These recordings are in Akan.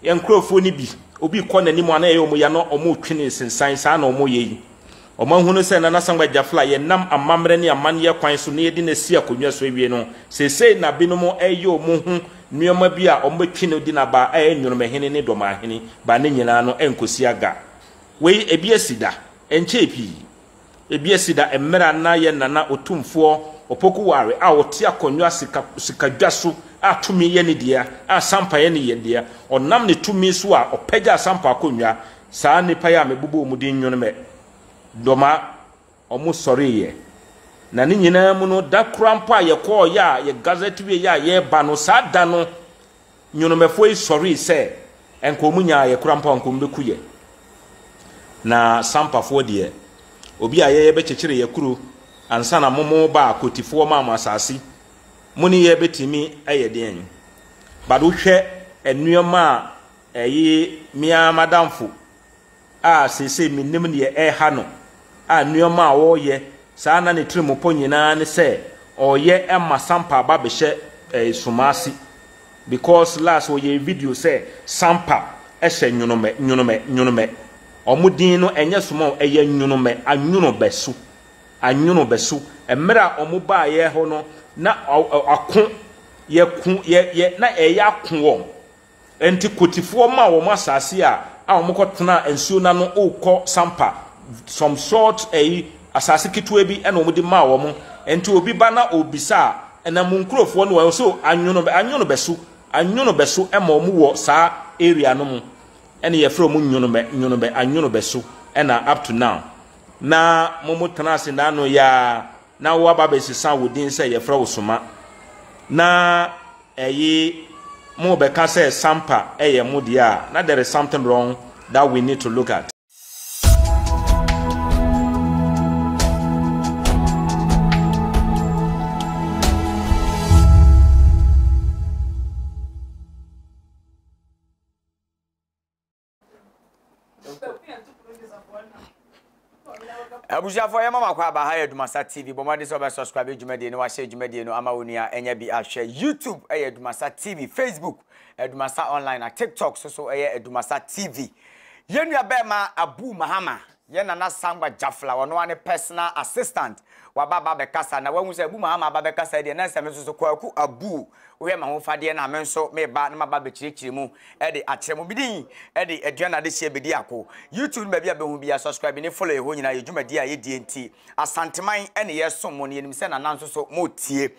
Yɛn nkurɔfoɔ no bi, obi rekɔ n'anim a na ɛyɛ wɔn ya na wɔretwe no nsensan, saa na wɔyɛ yi. Wɔahunu sɛ Nana Asamoah Gyafla a yɛnam amammerɛ ne amanneɛ kwan so na yɛde no asi akonnwa so awie no, seesei na binom reyɛ wɔn ho nneɛma bi a wɔbɛtwe no de no aba a ɛyɛ Nwonomahene ne Dɔmahene ba ne nyinaa no nkɔsi aga. Wei, ebi asi da, ɛnkyɛɛ pii. Ebia si da mber a nna yɛn Nana Otumfoɔ Opoku Ware a ɔtse akonnwa sika sikadwa so a tumi yɛ ne dea a sampa yɛ ne yɛn dea. Ɔnam ne tumi so a ɔpɛgyaa sampa akonnwa. Saa nnipa yi a mebobɔ wɔn din nwono mɛ dɔma wɔn sɔreeɛ. Na ne nyinaa mu no, da koraa mpo a yɛkɔɔeɛ a yɛ gazette wieeɛ a yɛreba no, saa da no, Nyonomɛfoɔ yi sɔree sɛ ɛnka wɔn nyaa yɛ kora mpo a nka wɔn bɛku yɛ. Na Sampafoɔ deɛ, obi a yɛyɛ bɛkyekyere yɛ kuro ansa na momo ba a Kotifoɔ maa mo asase, mo ne yɛ bɛtumi ayɛ deɛn? But wohwɛ nnoɔma a ɛye me ara m'adamfo a seesei minnim nea ɛreha no, a nneɛma a ɔreyɛ saa a na ne tirim pɔ nyinaa ne sɛ ɔreyɛ ma Sampa aba abɛhyɛ Sumasi because last ɔyɛɛ video sɛ Sampa hyɛ Nyonomɛ, Nyonomɛ, Nyonomɛ. Wɔn din no ɛnyɛ Suma o, ɛyɛ Nyonomɛ, Anwonobɛso, Anwonobɛso. Mmerɛ a wɔn baeɛ hɔ no na ako, yɛko, yɛ, yɛ, na ɛreyɛ ako wɔn. Enti Kotifoɔ maa wɔn asaase a a wɔkɔ tenaa nsuo no ano rekɔ Sampa, some short ɛyi, asaase ketewa bi ɛna wɔde maa wɔn. Enti obi ba na ɔrebisa a, ɛna mo nkurofoɔ no wɔ so anwono, anwono bɛso, anwono bɛso ɛma wɔn wɔ saa area no mo. Ɛna yɛfrɛ wɔn nwono bɛ, nwono bɛ, anwono bɛso ɛna up to now. Na wɔn tenaa ase naano yaa Na woaba abɛsesa wo din sɛ yɛfrɛ wo Soma. Na ɛye morebɛka sɛ Sampa yɛ mo deɛ a, na there is something wrong that we need to look at. abusuafoɔ yɛma makɔ aba ha yɛ adumasa tv bɔ mmɔden sɛ wɔbɛ subscribe adwumadie no wahyɛ adwumadie no ama wo nua ɛnyɛ bi ahwɛ youtube ɛyɛ adumasa tv facebook adumasa online na tiktok so so ɛyɛ adumasa tv yɛn nua bɛɛma abu mahama Yɛn Nana Sangba Jafla, ɔno ara ne personal assistant, waba aba abɛkasa, na wahu sɛ Abu Mahama aba abɛkasa deɛ, na ɛsɛ sɛ me nso so, Kwaku Abu, wohwɛ m'ahofadeɛ no a, me nso meba na maba abɛkyerɛkyerɛ mu de akyerɛ mo. Me din de Aduane Adehyeɛ Bediako. YouTube ne baabi a bɛhu biara, subscribe ne follow ɛhɔ nyinaa yɛ dwumadie a yɛdie nti, Asanteman ne yɛresom mo, na yɛnim sɛ Nana nso so moretie.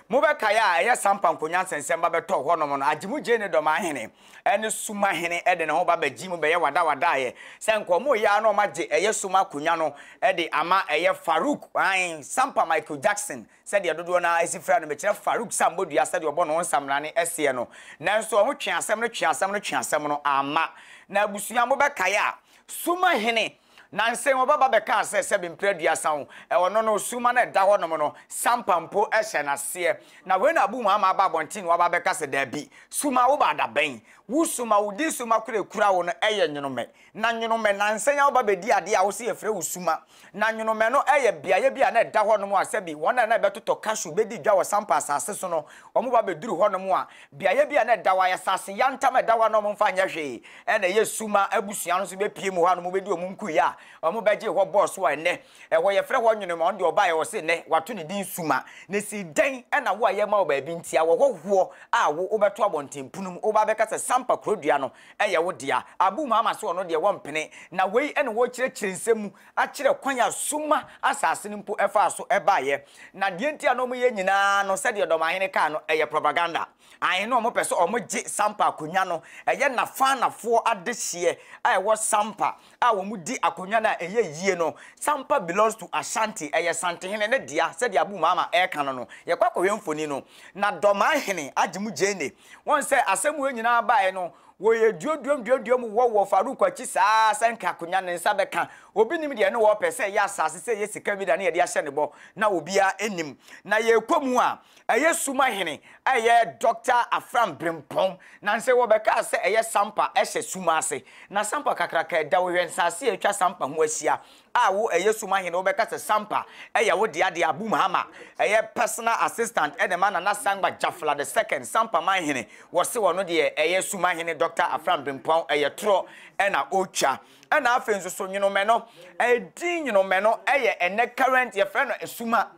Mobɛkae a, ɛyɛ Sampa Nkonyansa nsɛmma bɛtɔɔ hɔnom no, agye mo gyee ne dɔm ahene. ne Suma hene de ne ho ba bɛgye mu bɛyɛ wadawadaeɛ sɛ nka wɔn reyɛ ara na wɔagye ɛyɛ Suma akonnwa no de ama ɛyɛ Farouk, ae, Sampa Michael Jackson sɛdeɛ dodoɔ no ara si frɛ no, mekyerɛ Farouk Sambodua sɛdeɛ ɔbɔ ne ho nsamena no seɛ no. Nanso wɔn twee asɛm no, twee asɛm no, twee asɛm no, amma. Na abusua mobɛkae a, Suma hene. Nansa yi, wɔbɛba bɛkaa sɛ sɛbe mpere aduasa o, ɛwɔ no no, summa no a ɛda hɔnom no, sampa mpo hyɛ no aseɛ. Na wei na abu mu ama aba abɔnten na wɔaba abɛka sɛ, Dabi, summa, wobaa da bɛn? Wo summa, wo din summa koro a ɛkura wo no yɛ nwonomɛ. Na nwonomɛ, nansa yi ara woba bɛdi adeɛ a wose yɛfrɛ wo summa. Na nwonomɛ no yɛ beaeɛ bi a na ɛda hɔnom a sɛbe wɔn a na ɛbɛtotɔ cashew bɛdi dwa wɔ sampa asase so no, wɔba bɛduru hɔnom a, Beaeɛ bi a na ɛda hɔ ara, asase yantam a ɛda hɔ a na wɔmfa nyɛ hwee, ɛna ɛyɛ su ma abusua no nso bɛpue mu hɔ a na wɔbɛdi wɔn nkuiɛ a wɔbɛgyee hɔ bɔɔ so a ɛnnɛ ɛhɔ yɛfrɛ hɔ Nwenema. Ɔno deɛ ɔbaeɛ ɔse nnɛ wɔato ne din Suma. Na ɛsi dɛn na wo a yɛrema wo baabi nti a wɔhɔ hoɔ a wo wobɛto abɔnten pono mu woba abɛka sɛ Sampa kurodua no yɛ wo dea? Abu Mahama se ɔno deɛ wɔmpene na wei ne wɔrekyerɛkyerɛ nsɛm mu akyerɛ kwan a summa asase no mpo faa so baeɛ. Na deɛ nti a na wɔyɛ nyinaa no, sɛdeɛ Ɔdɔmahene kaa no, ɛyɛ propaganda. Ae, na wɔpɛ sɛ wɔgye Sampa akonnwa no. Ɛyɛ Nafanafoɔ adehyeɛ a ɛwɔ Sampa a wɔdi akonnwa no a ɛyɛ yie no. Sampa belongs to Ashanti, ɛyɛ Santehene no dea, sɛdeɛ Abu Mama reka no no. Yɛkɔ akɔhwɛ mfoni no na Dɔmahene agye mu gyeene. Wɔn sɛ asɛm wei nyinaa baeɛ no, wɔyɛ duoduam duoduam wɔ wɔ Farouk akyi saa ara sɛ anka akonya ne nsa bɛka. Obi nim deɛ ɛne wɔrepɛ, sɛ ɛyɛ asase, sɛ ɛyɛ sika bi da ne yɛde ahyɛ ne bɔ, na obiara nnim. Na yɛrekɔ mu a, ɛyɛ Suma hene a ɛyɛ Dɔkta Afram Brempong. Nansei wɔbɛkaa sɛ ɛyɛ Sampa ɛhyɛ Suma ase. Na Sampa kakraka ɛda Ɔwɛn-Saase a atwa Sampa ho ahyia. A wo ɛyɛ sum ahene wobɛka sɛ sampa ɛyɛ wo dea de abu mahama ɛyɛ personal assistant ɛde ma nana sangba jafla the second sampa man hene wɔse ɔno deɛ ɛyɛ sum ahene doctor afram brimpuan ɛyɛ torɔ ɛna ɔtwa ɛna afei nso so nyonomɛ no ɛdin nyonomɛ no ɛyɛ ɛnɛ current yɛfrɛ no suma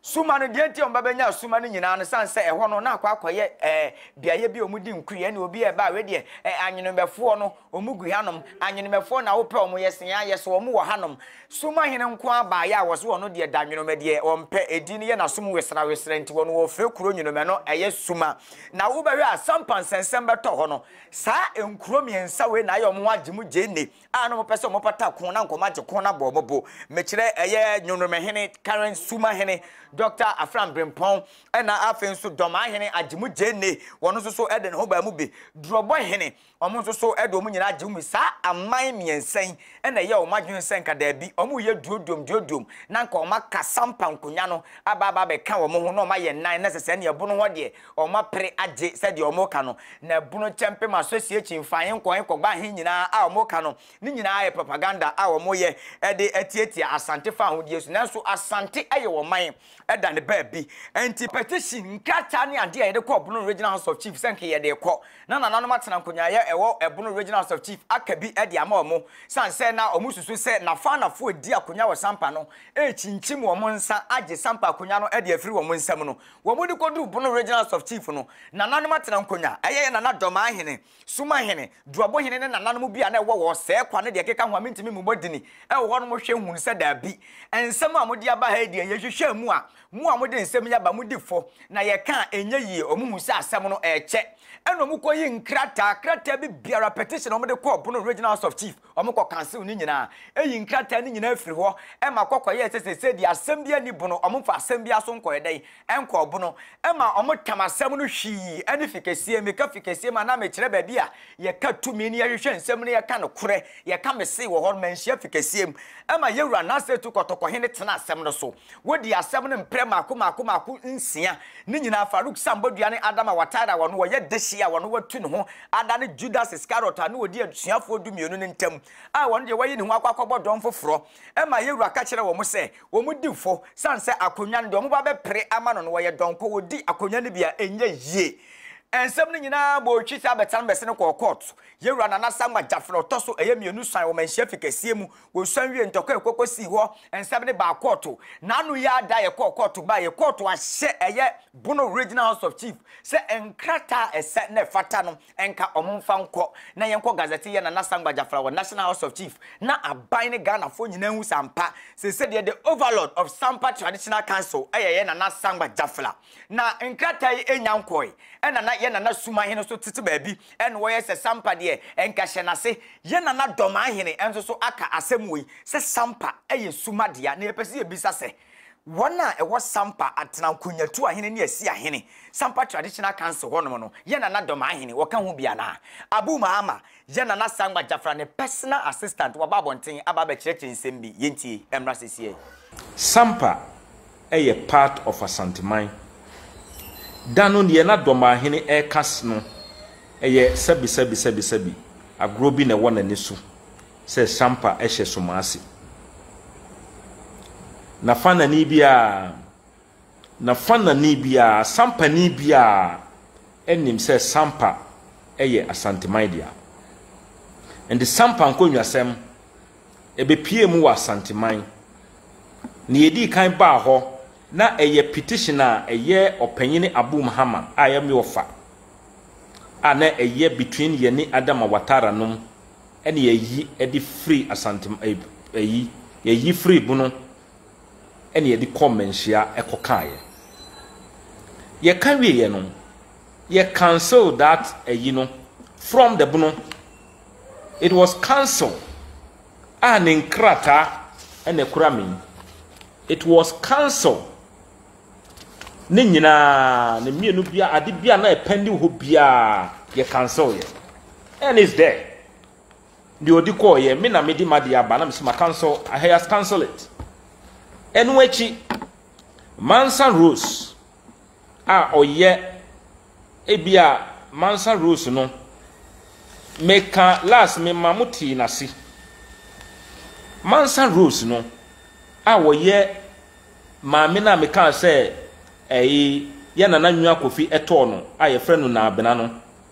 Suma no, deɛ nti a wɔba bɛnya suma no nyinaa no, sane sɛ ɛhɔ no na akɔ akɔyɛ ɛɛ beaeɛ bi a wɔdi nkui, ɛne obi a ɛba a wei deɛ ɛɛ anwenemɛfoɔ no wɔn gu hanom, anwenemɛfoɔ na wopɛ wɔn yɛ sene ayɛ so wɔn wɔ hanom. Suma hene nko ara baeɛ a wɔso ɔno deɛ da nwenemɛ deɛ ɔmpɛ, ɛdi no yɛ n'asom wesrɛwesrɛ nti wɔn wɔfrɛ kuro nwenemɛ no ɛyɛ suma. Na wobɛhwɛ a sampa nsɛnsɛm bɛtɔ hɔ no, saa nkuro mmiɛnsa wei na ayɛ wɔn agye mu gyee nne. a na wɔpɛ sɛ wɔpata ko na nkɔmɔ agye ko na bɔ wɔn bo. Mekyerɛ ɛyɛ Nyonoromehene Karen Sumahene, Dɔkta Afram Brempɔn, ɛna afei nso Dɔmahene Agyemu Gyenne, wɔn nso so de ne ho baa mu bi. Durɔbɔhene, wɔn nso so de wɔn nyinaa gye mu bi. Saa aman mmiɛnsa yi na ɛyɛɛ wɔn adwene sɛ nka daabi, wɔn reyɛ duoduom duoduom na nka wɔaka Sampa nkonwa no aba aba abɛka wɔn ho na wɔayɛ nnan na sɛ sɛnea ɛbo no hɔ deɛ, wɔapere agye sɛdeɛ wɔka no, na abunu kyɛmpem association fa he nkɔ he kɔba he nyinaa a wɔka no, ne nyinaa yɛ propaganda a wɔyɛ de atiatia Asante fa ahodie so. Nanso Asante yɛ ɔman da ne baabi. Nti. Petition, nkrataa ne adeɛ a yɛde kɔɔ Bono Regional House of Chief sɛ nka yɛde rekɔ na nananom atena nkonyaaeɛ ɛwɔ Bono Regional House of Chief aka bi de ama wɔn sane sɛ na wɔsusu sɛ Nafanafoɔ a ɛdi akonya wɔ Sampa no rekyinkyim wɔn nsa agye Sampa akonya no de afiri wɔn nsam no. Wɔn de kɔduruu Bono Regional House of Chief no, nananom atenankonnwa, ɛyɛ yɛn nana Dɔmahene, Sumahene, Duabohene ne nananom bi a na ɛwɔ hɔ, Sɛɛkwa ne deɛ ɛkeka ho a mentumi mmobɔ dini wɔ hɔ nom hwɛ hunu sɛ daabi, nsɛm a mode aba ha yi deɛ yɛhwehwɛɛ mu a mo a mode nsɛm yi aba modi fɔ na yɛka a ɛnyɛ yie, wɔn hu sɛ asɛm no ɛɛkyɛ ɛna wɔn kɔyi nkrataa, krataa bi biara, petition a wɔde kɔɔ Bono Regional House of Chief. Wɔkɔkansew ne nyinaa, eyi nkrataa no nyinaa firi hɔ ma kɔkɔyɛɛ sɛ seesei deɛ asɛm biara nni bono, wɔmfa asɛm biara so nkɔɔ dɛn? nkɔɔ bono, ma wɔtam asɛm no hwii ne fikɛsie, meka fikɛsie mu anaa mekyerɛ baabi a yɛka tumi ne yɛhwehwɛ nsɛm ne yɛka nokorɛ, yɛka mesee wɔ hɔ no, manhyia fikɛsie mu, ma yɛwura Nasarɛtu kɔtɔkɔhene tenaa asɛm no so. Wodii asɛm no mprɛ mmaako mmaako mmaako nsia. Ne nyinaa, Farouk san bɔ dua ne Adama Ouattara a ɔno ɔyɛ dehye a ɔno watu ne ho adane Judas Iscariot a na ɔdi asuafoɔ dumienu no ntam a ɔno deɛ wayi ne ho akɔ akɔbɔ dɔm foforɔ ma Yewura ka kyerɛɛ wɔn sɛ wɔn di fɔ sane sɛ akonnwa no deɛ wɔba bɛpere ama no no ɔyɛ dɔnkɔ wɔdi akonnwa no bi a ɛnyɛ yie Nsɛm no nyinaa bɔɔ twi sɛ abɛtena no bɛsene kɔɔ kɔɔto. Yewura Nana Asamoah Gyafena ɔtɔ so ɛyɛ mmienu suan wɔ manhyia fi kɛseɛ mu Wɔsuan wiee ntɔkwa a ɛkɔ kɔsii hɔ nsɛm no baa kɔɔto. N'ano yi ara da a yɛkɔɔ kɔɔto baeɛ, kɔɔto ahyɛ ɛyɛ Bono Regional House of Chief sɛ nkrataa a ɛsɛ na ɛfata no nka wɔmfa nkɔ na yɛnkɔ Gazette yɛ Nana Sangba Gyafra wɔ National House of Chief na aban ne Ghanafoɔ nyinaa ahu sɛ ampa sɛ sɛdeɛ the Overlord of Sampa Traditional Council yɛ yɛ Nana Sangba Gyafra Na nkrataa yi nnya nkɔɔe, ɛna na yɛn nana Sumahene nso tete baabi, ɛna ɔyɛ sɛ Sampa deɛ nka hyɛ n'ase. Yɛn nana Dɔmahene nso so aka asɛm wei, sɛ Sampa yɛ Suma dea, na yɛpɛ sɛ yɛbisa sɛ, wɔn a ɛwɔ Sampa atena Nkonnyatuahene ne Asiahene, Sampa Traditional Council hɔnom no, yɛn nana Dɔmahene, ɔka ho bi anaa? Abu Mahama, Yɛ Nana Sangba Jafra ne personal assistant waba abɔnten aba abɛkyerɛkyerɛ nsɛm bi, yɛntie ɛmmra sesiɛ. Sampa yɛ part of Asanteman. Da no neɛ na Dɔmahene reka no yɛ sɛbi sɛbi sɛbi sɛbi agorɔ bi na ɛwɔ n'ani so sɛ Sampa hyɛ Somase. Nafanani biara. Na Fanani biara, Sampani biara nim sɛ Sampa yɛ Asanteman dea. Ɛnde Sampa nkonnwasɛm bɛpuee mu wɔ Asanteman. Nea ɛdii kan baa hɔ na ɛyɛ petition a ɛyɛ Ɔpanyini Abu Mahama a ɛyɛ Mewofa a na ɛyɛ between yɛne Adama Watara nom ɛne yɛyi de firi Asantem ɛyi yɛyi firi bono na yɛde kɔ mmanhyia kɔkaeɛ. Yɛka wieeɛ no, yɛ cancel that ayi no from the bono. It was cancel a ne nkrataa na ɛkura me yi. It was cancel. Ne nyinaa, ne mmienu bia, ade bia na ɛpɛndi hɔ biara, yɛ cancel yɛ. And it's there. Deɛ ɔdi kɔɔ yɛ me na mede madeɛ aba na mesi ma cancel he has cancel it ɛno akyi Mansa Rose a ɔyɛ ebi a Mansa Rose no meka last me ma mo tee n'ase Mansa Rose no a ɔyɛ maame no a meka sɛ ɛyi yɛ nana nwa kofi ɛtɔɔ no a yɛfrɛ no naabena no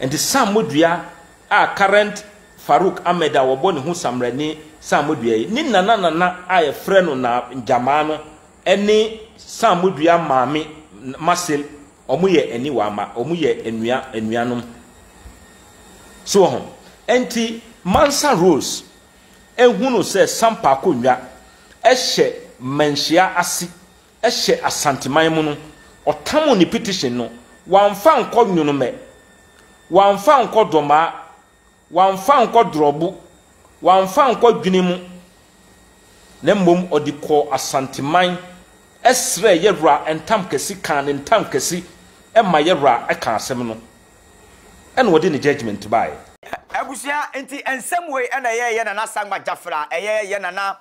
Enti Sam Modua a current Farouk Ahmed a wɔbɔ ne ho Samrani Sam Modua yi, ne nana nana a yɛfrɛ no Na Njamaa no ne Sam Modua maame Marcel, wɔn yɛ aniwa mma, wɔn yɛ anua anuanom. So wɔ ho? Enti Mansa Rose ehunu sɛ Sam Paakonnwa hyɛ mmanhyia ase, hyɛ Asanteman mu no, ɔtamoo ne petition no, wamfa ankɔ Nyonomɛ, wamfa ankɔ Dɔmaa, wamfa ankɔ Drɔbo, wamfa ankɔ Dwene mu, na mmom ɔde kɔɔ Asanteman srɛɛ Yawura ntam kɛse, kaa ne ntam kɛse ma Yawura kaa asɛm no, ɛna ɔde ne judgement baeɛ. Abusua, nti nsɛm wei na ɛyɛɛ yɛn Nana Sankma Gyafra, ɛyɛ yɛn Nana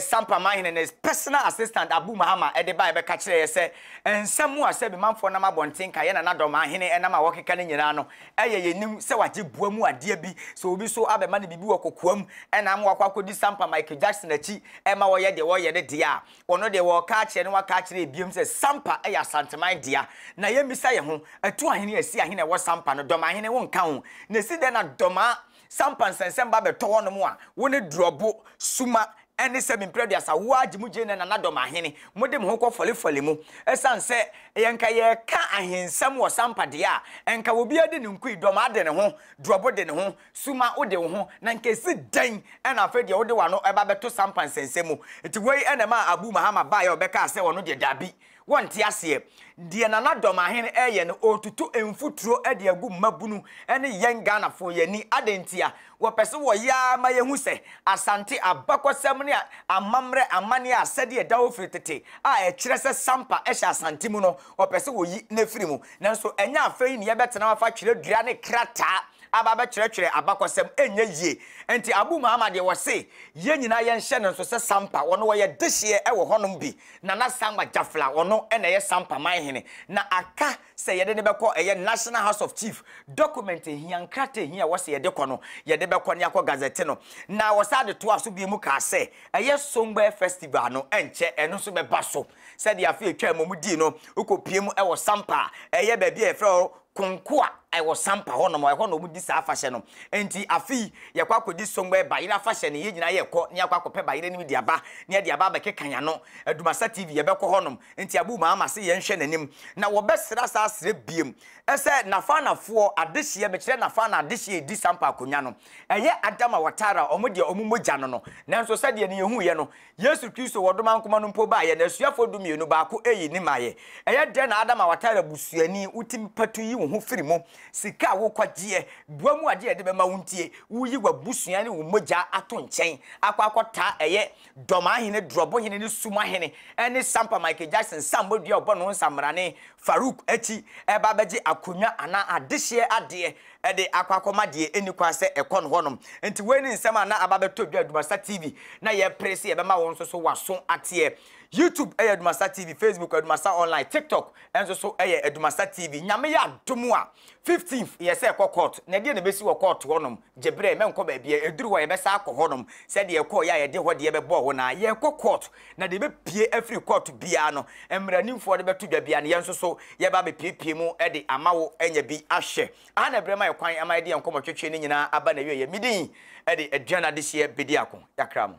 Sampa Mahene ne personal assistant Abu Mahama de baeɛ bɛka kyerɛeɛ sɛ, Nsɛm a sɛ Bimanfoɔ nam abɔnten ka yɛn nanadɔm ahene nam a wɔkeka no nyinaa no yɛ yɛnim sɛ wɔagye boa mu adeɛ bi, sɛ obi nso abɛma no biribi wɔ kokoam na ama wakɔ akɔdi Sampa Michael Jackson akyi ma wɔyɛ deɛ wɔreyɛ no deɛ a, ɔno deɛ wɔreka akyerɛ no aka akyerɛ yɛn bio sɛ Sampa yɛ Asanteman dea. Na yɛmmisa yɛn ho, Atuahene, Asiahene a ɛwɔ Sampa no, Dɔmahene, wonka ho? Na ɛsi dɛn na Dɔmaa Sɛ ampa nsɛnsɛm ba bɛtɔ hɔnom a, wo ne Durɔbo, Suma, ne Sɛbi Mprɛduasa, wo ara gye mo gyina na Nadɔm Ahene, mode mo ho kɔ fɔlefɔle mu. Ɛsiane sɛ yɛn nka yɛreka ahensɛm wɔ Sampa deɛ a, nka obiara de ne nko yi, Dɔmaa de ne ho, Durɔbo de ne ho, Suma wo de wo ho, na nka ɛsi dɛn na afei deɛ wode w'ano ba bɛto Sampa nsɛnsɛm mu. Nti wei na ɛmaa Abu Mahama baeɛ a ɔbɛkaa sɛ ɔno deɛ dabi, Wɔnte aseɛ. Deɛ Nana Dormahen reyɛ no, ɔretutu mfuturo de agu mmabunu ne yɛn Ghanafoɔ yɛn ani. Adɛn ntia? Wɔpɛ sɛ wɔyɛ ara ma yɛhu sɛ Asante abakɔsɛm ne amammerɛ amanneɛ a asɛdeɛ ɛda hɔ firi tete a ɛkyerɛ sɛ Sampa hyɛ Asante mu no, wɔpɛ sɛ wɔyi no afiri mu. Nanso ɛnyɛ afei na yɛbɛtena hɔ afa twerɛdua ne krataa aba abɛtwerɛtwerɛ abakɔsɛm. Ɛnyɛ yie. Enti Abu Mahama deɛ, ɔse yɛn nyinaa yɛnhyɛ no nso sɛ Sampa, wɔn wɔyɛ dehyeɛ wɔ hɔnom bi. Nana Sankma Gyafla a ɔno na ɛyɛ Sampa Manhene na aka sɛ yɛde no bɛkɔ ɛyɛ National House of Chief document hia, nkrataa hia a ɛwɔ sɛ yɛde kɔ no, yɛde bɛkɔ ne akɔ gazette no. Na wɔsan de toaa so bio mu kaa sɛ ɛyɛ Songbe Festival no nkyɛ ɛno nso bɛba so sɛdeɛ afe a ɛtwaa mu wɔdii no, wokɔpue mu wɔ Sampa a ɛyɛ baabi a yɛfrɛ hɔ Konko a ɛwɔ Sampa hɔ nom, ɛhɔ na wɔdi saa afahyɛ no. Enti afe yi yɛkɔ akɔdi Songbe Bayerɛ afahyɛ no, yɛn nyinaa yɛkɔ na yɛakɔ akɔpɛ bayerɛ no bi de aba na yɛde aba abɛkeka yɛn ano. Adumasa TV yɛbɛkɔ hɔ nom, enti Abu maa ma se yɛnhwɛ n'anim na wɔbɛsra saa srɛ biem sɛ Nafanafoɔ adehyeɛ, mekyerɛ Nafana adehyeɛ a ɛdi Sampa akonwa no, ɛyɛ Adama Watara wɔn deɛ wɔmmɔ gya no no. Nanso sɛdeɛ ne yɛhuiɛ no, Yesu Kristo wɔ domankoma no mpo baeɛ, n'asuafoɔ dumienu, baako eyi ne maeɛ. Ɛyɛ dɛn na Adam a watare abusuani, wotumi patu yi wo ho firi mu? Sika a wokwagyeɛ, boa mu adeɛ a yɛde bɛma wo ntie, woyi w'abusua ne wo mogya ato nkyɛn akɔ akɔtaa ɛyɛ Dɔm Ahene, Drɔbo Hene ne Sum Ahene ɛne Sampa Michael Jackson nsammɔ dua a ɔbɔ no nsammrane Farouk akyi ɛreba abɛgye akonnwa anaa adehyeɛ adeɛ de akɔ akɔma deɛ ɛnni kwan sɛ ɛkɔ no hɔnom. Nti wei ne nsɛm a na aba bɛtɔ dwa Dumasa TV na yɛpere sɛ yɛbɛma wo nso so waso ateɛ. YouTube yɛ Dumasa TV, Facebook Dumasa Online, TikTok nso so yɛ Dumasa TV. Nyame yɛ adom a, 15th yɛ sɛ ɛkɔ court, na ɛdeɛ na ɛbɛsi wɔ court hɔnom? Gye berɛ, mɛnkɔ baabiara, ɛduru hɔ a yɛbɛsan akɔ hɔnom sɛdeɛ yɛkɔeɛ a yɛde hɔ deɛ bɛbɔɔ wo no ara, yɛrekɔ court. Na deɛ ɛbɛpue afiri kɔɔto biara no, mmaranimfoɔ de bɛto dwa biara no, yɛn nso so yɛba abɛpuepue mu de ama wo anya bi ahwɛ. Aha na ɛberɛ ma yɛ kwan ma yɛde yɛn nkɔmmɔtwetwe no nyinaa aba n'awieeɛ. Me din de Aduane Adehyeɛ bɛdi ako. Yɛakra mo.